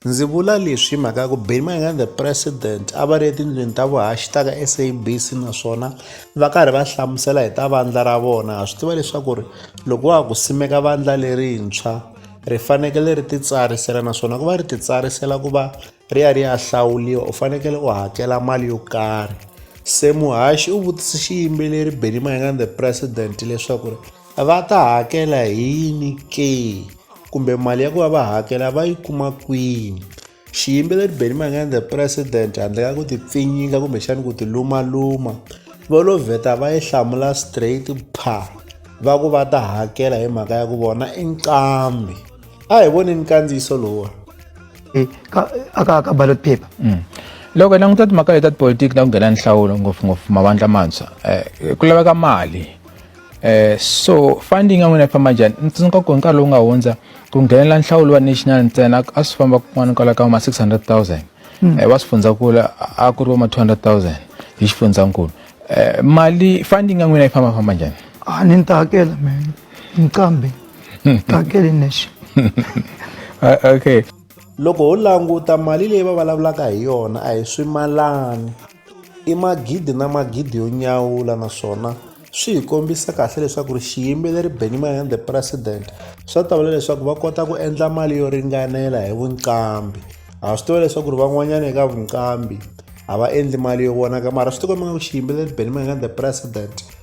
Ndzi vula leswi hi mhaka ya ku Benny Mayengani the president a va ri etindlwini ta vuhaxi ta ka SABC naswona va karhi va hlamusela hi ta vandla ra vona ha swi tiva leswaku ri loko wa ha ku simeka vandla lerintshwa ri fanekele ri titsarisela naswona ku va ri titsarisela ku va ri ya ri ya hlawuriwa u fanekele u hakela mali yo karhi se muhaxi u vutise xiyimbeleri Benny Mayengani the president leswaku ri va ta hakela hi yini ke kumbe mali ya ku va va hakela va yi kuma kwini xiyimbeleri benny mangani the president handle ka ku ti pfinyinga kumbexani ku ti lumaluma vo lo vheta va yi hlamula straight pha va ku va ta hakela hi mhaka ya ku vona i nqambi a hi voneni kandziyiso lowa eh, aka ka ballot paper mm. loko hi languta timhaka leti ta tipolitiki na ku nghena nhlawulo ngopfungopfu mavandla mantshwa um ku laveka mali Eh, so funding ya n'wina yi famba njhani ni tsundzuka ku hi nkarhi lowu nga hundza ku nghenela nhlawulo wa national ntsena a swi famba kun'wana kwala ka ma 600 000 hmm. eh, va swifundzakulu a ku ri va ma 200 000 hi xifundzakulu eh, mali funding ya n'wina yi famba famba njhani a ah, ni ni ta hakela mina nqambi ta hakela nexe ah, okay loko ho languta mali leyi va vulavulaka hi yona a hi swimalani I magidi na magidi yo nyawula naswona swi hi kombisa kahle leswaku ri xiyimbeleri Benny Mayengani the president swa ta vula leswaku va kota ku endla mali yo ringanela hi vunqambi ha swi tiva leswaku ri van'wanyana eka vunqambi a va endli mali yo vonaka mara swi tikomba nga ku xiyimbeleri Benny Mayengani the president